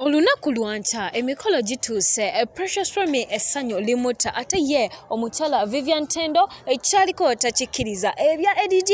Olunaku lwa nkya emikolo gituuse, eh, Precious Remy essanyu limutta ate ye omukyala Vivian Tendo ekyaliko eh, takikkiriza. Ebya eh, ADD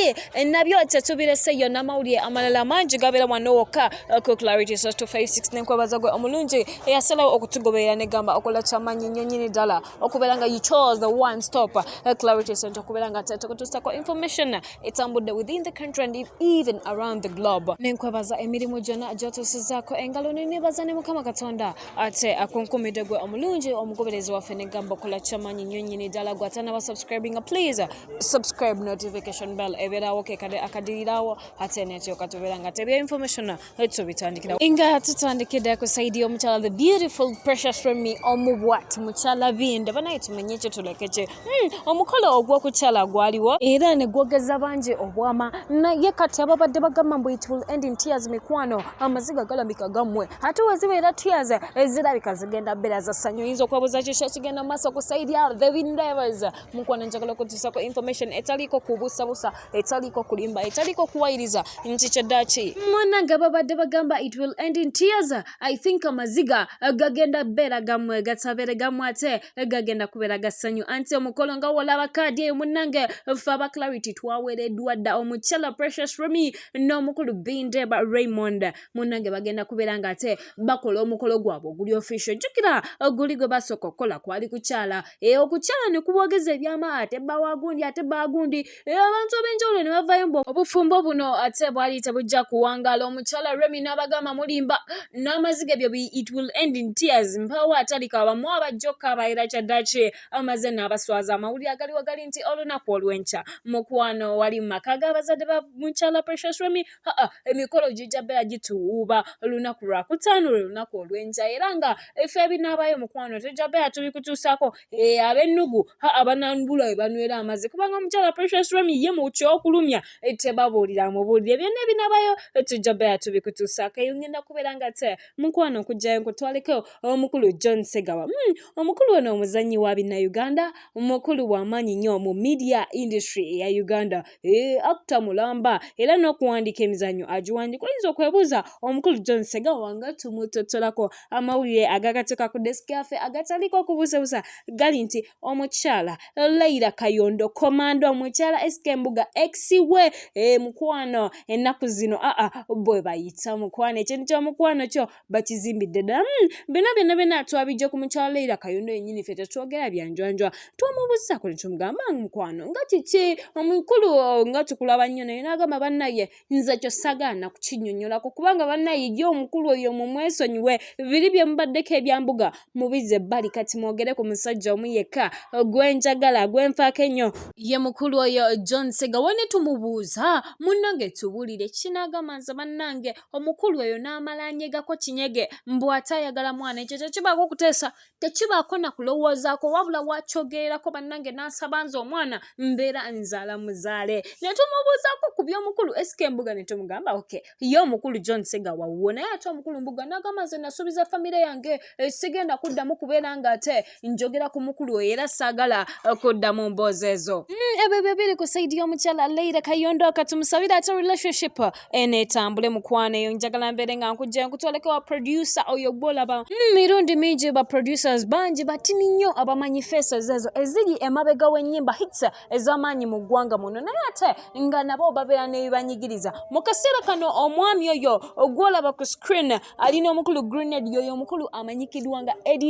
nabyo tetubireseyo n'amawulire amalala mangi gabeera wano wokka ku Clarity Source 256 n'enkwebaza gwe omulungi eyasalawo okutugoberera ne gamba okola kyamanyi nnyo nnyini ddala okubeera nga you chose the one stop Clarity Center okubeera nga tekutuusako information etambudde within the country and even around the globe nenkwebaza emirimu gyonna gyotuusizaako engalo nenebaza ne mukama katonda ate akunkumidde gwe omulungi omugoberezi waffe negamba okola kyamanyi nnyo nyini ddala gwe atanaba subscribinga please subscribe notification bell ebeerawo kekade akadirirawo ate netyoka tubeera nga tebya information Let's bitandikira nga tutandikira ku saidi y'omukyala the beautiful precious remi omubwat mukyala binda banaye tumenye ekyo tulekekye hmm, omukolo ogw'okukyala gwaliwo era ne gwogeza bangi obwama naye kati ababadde bagamba mbu it will end in tears mikwano amaziga galambika gammwe ate wezibeera tears ezirabika zigenda bbeera za ssanyu oyinza okwebuuza kyo kyakigenda mu maaso ku saidi ya the windivers mukwano njagala okutuusako information etaliiko kubusabusa etaliiko kulimba etaliiko kuwayiriza nti kyeddaki mwananga babadde bagamba it will end in tears i think amaziga gagenda beera gamwe gatabeere gamwe ate gagenda kubeera gasanyu anti omukolo nga wolaba kaadi eyo munange fe aba clarity twaweereddwa dda omukyala precious remy n'omukulu bindeba raymond munange bagenda kubeera nga ate bakola omukolo gwabwe oguli official jjukira oguli gwe basooka okukola kwali kukyala Eh, okukyalana kubogeza ebyama ate bba wa gundi ate bba gundi eh, abantu ab'enjawulo ne bavayo mbu obufumbo buno ate bwali tebujja kuwangaala omukyala remi n'abagamba mulimba n'amaziga ebyo it will end in tears mpaawo atalika abamu abajja okukaabaira kyaddaki amaze n'abaswaza amawulire agaliwo gali nti olunaku olw'enkya mukwano wali mu maka g'abazadde ba mukyala precious remi aa emikolo gijja beera gituwuuba olunaku lwakutaano lwe lunaku olw'enkya era nga efe ebinaabayo mukwano tujja beera tubikutuusaako ee abennugu aa bananbula we banywera amazzi kubanga omukyala precious remi ye mu kyokulumya tebabuulira mubuulire byonna ebinaabayo tujja beera tubikutuusaako eyo ngenda kubeera nga te mukwano okujjayo nkutwaleko omukulu john segawa hmm, omukulu ono omuzannyi wa binnauganda mukulu w'amaanyi nnyo mu media industry eya uganda eh, akta mulamba era n'okuwandiika emizannyo agiwandiika oyinza okwebuuza omukulu john segawa nga tumutottolako amawulire agagateeka ku desiki yaffe agataliiko okubuusabuusa gali nti omukyala leira kayondo komando omukyala esika embuga exiwe eh, mukwano ennaku zino aa bwe bayita mukwano ekintu ky'omukwano kyo bakizimbidde ddala hmm, byonna byonna byonna twabijja ku mukyala leira kayondo yenyini ffe tetwogera byanjwanjwa twamubuuzako netumugamba mukwano nga kiki omukulu nga tukulaba nnyo naye nagamba bannaye nze kyo sagaana kukinyonyolako kubanga bannaye ye omukulu oyo mumwesonyiwe biri byemubaddeko ebyambuga mubize ebbali kati mwogere ku musajja omu yekka gwenjagala gwenfaako ennyo ye mukulu oyo john segawa netumubuuza munnange tubulire kinagamba nze bannange omukulu eyo n'amala anyegako kinyege mbu ate ayagala mwana ekyo tekibaako okuteesa tekibaako na kulowoozaako wabula wakyogererako bannange n'asaba nze omwana mbeera nzaala muzaale ne tumubuuzaako ku by'omukulu esika embuga ne tumugamba oke ye omukulu john sega wawuwo naye ate omukulu mbuga n'agamba nze nasuubiza famire yange eh, sigenda kuddamu kubeera ng'ate njogera ku mukulu era saagala eh, kudda mu mboozi ezo mm, ebyo byo biri ku saidi y'omukyala leira kayondo katumusabira ate relationship eh, enetambule mukwano eyo njagala mbeere nga nkujja nkutwaleko wa producer oyo gwolaba mm, mirundi mingi ba producers bangi batini nnyo abamanyi faces ezo eziri emabega w'ennyimba hits eh, ez'amaanyi mu ggwanga muno naye ate nga nabo babeera nebibanyigiriza mu kaseera kano omwami oyo ogwolaba ku screen ali n'omukulu grenade yoyo omukulu amanyikidwa nga add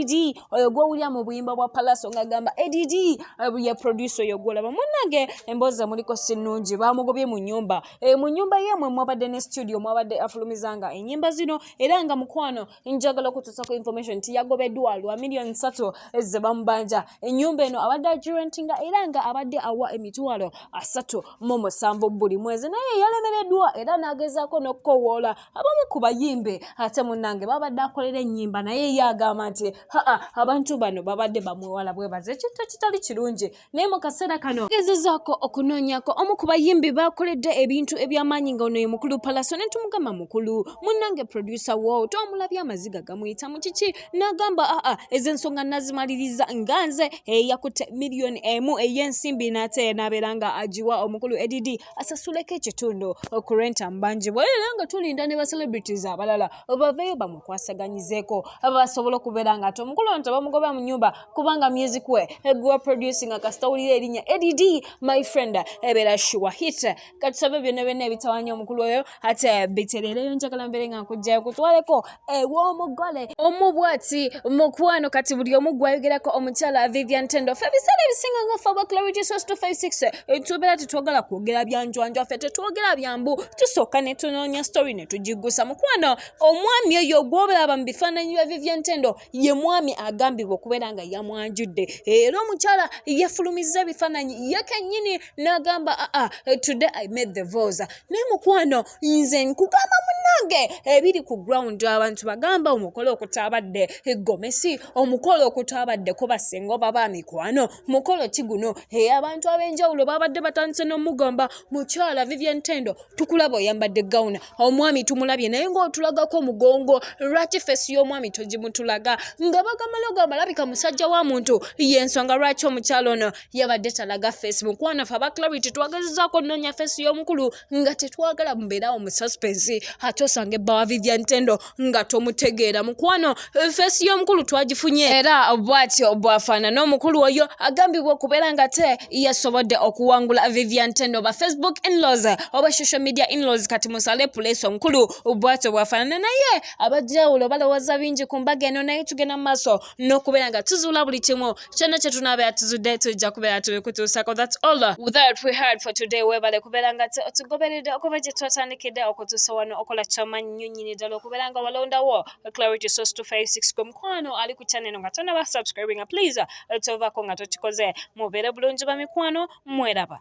oyo gwowulira mu buyimba bwa palaso ng'agamba add eh, ye producer oyo gwolaba munange emboozi emuliko si nnungi bamugobye mu nyumba eh, mu nyumba yemwe mwabadde ne studio mwabadde afulumizanga enyimba zino era nga mukwano njagala okutuusako information nti yagobeddwa lwa miliyoni satu eh, ze bamubanja enyumba eno abadde agirentinga era nga abadde awa emitwalo asatu mu musanvu buli mwezi naye yalemereddwa era n'agezaako n'okukowoola abamu ku bayimbi ate munange babadde akolera ennyimba naye ye agamba nti haa abantu bano babadde bamwewala bwebaza ekintu ekitali kirungi naye mu kaseera kano gezezaako okunoonyako omu ku bayimbi bakoledde ebintu eby'amaanyi nga ono ye mukulu palaso ne tumugamba mukulu munange producer wo twamulabye amaziga gamuyita mu kiki n'agamba aa ezo ensonga nazimaliriza nga nze eyakutte eh, miliyoni emu ey'ensimbi n'ate n'abeera nga agiwa omukulu edd asasuleko ekitundu ku rent ambanjibwa era nga tulinda ne ba celebrities abalala baveeyo bamukwasaganyizeeko basobola okubeera nga ate omukulu ono tebamugoba mu nyumba kubanga music we eguwa producing kasita wulira erinnya add my friend ebeera shuwa hit katusabe byonna byonna ebitawanya omukulu oyo ate biterere eyo njagala mbeere nga nkujjayo kutwaleko ew'omugole omu bwati mukwano kati buli omu gwayogerako omukyala vivian tendo fe ebiseera ebisinga nga fe abaclarity sos 256 tubeera tetwagala kwogera byanjwanjwa ffe tetwogera byambu tusooka ne tunoonya story ne tugiggusa mukwano omwami oyo gwobalaba mu bifaananyi bya vivian tendo ye mwami agambibwa okubeera nga yamwanjudde era omukyala yefulumizza ebifaananyi ye kennyini n'agamba aa ah, ah, today i made the vosa naye mukwano nze nkugamba munange ebiri ku ground abantu bagamba omukolo okutabadde egomesi omukolo okutabadde kubasinga oba ba mikwano mukolo ki guno eyabantu ab'enjawulo babadde batandise n'omugamba mukyala vivian tendo tukulaba oyambadde gawuna omwami tumulabye naye ngaotulagako omugongo lwaki fesi y'omwami togimutulaga nga bagamala ogamba labika musajja wa muntu yensonga lwaki omukyalo ono yabadde talaga fesi mukwano fe aba clarity twagezezako ononya fesi y'omukulu nga tetwagala mubeerawo mu suspensi ate osanga ebbawa vivian tendo nga tomutegeera mukwano feesi y'omukulu twagifunye era bwatyo bwafaanana omukulu oyo agambibwa okubeera nga te yasobodde okuwangula vivian tendo oba facebook inlaws oba social media inlaws kati musale puleesi omukulu bwatyo bwafaanana naye abajawulo balowooza bingi ku mbaga eno naye tugenda mu maaso n'okubeera nga tuzuula buli kimu kyonna kye tunaabeera tuzudde tujja kubeera tubikutuusako thats all without we heard for today webale kubeera nga tugoberedde okuva gye twatandikidde okutuusa wano okola kyamannyo nyini ddala okubeera nga walondawo clarity source 256 gwe mukwano ali ku channel nga tonaba subscribinga please tovako nga tokikoze mubeere bulungi bamikwano mweraba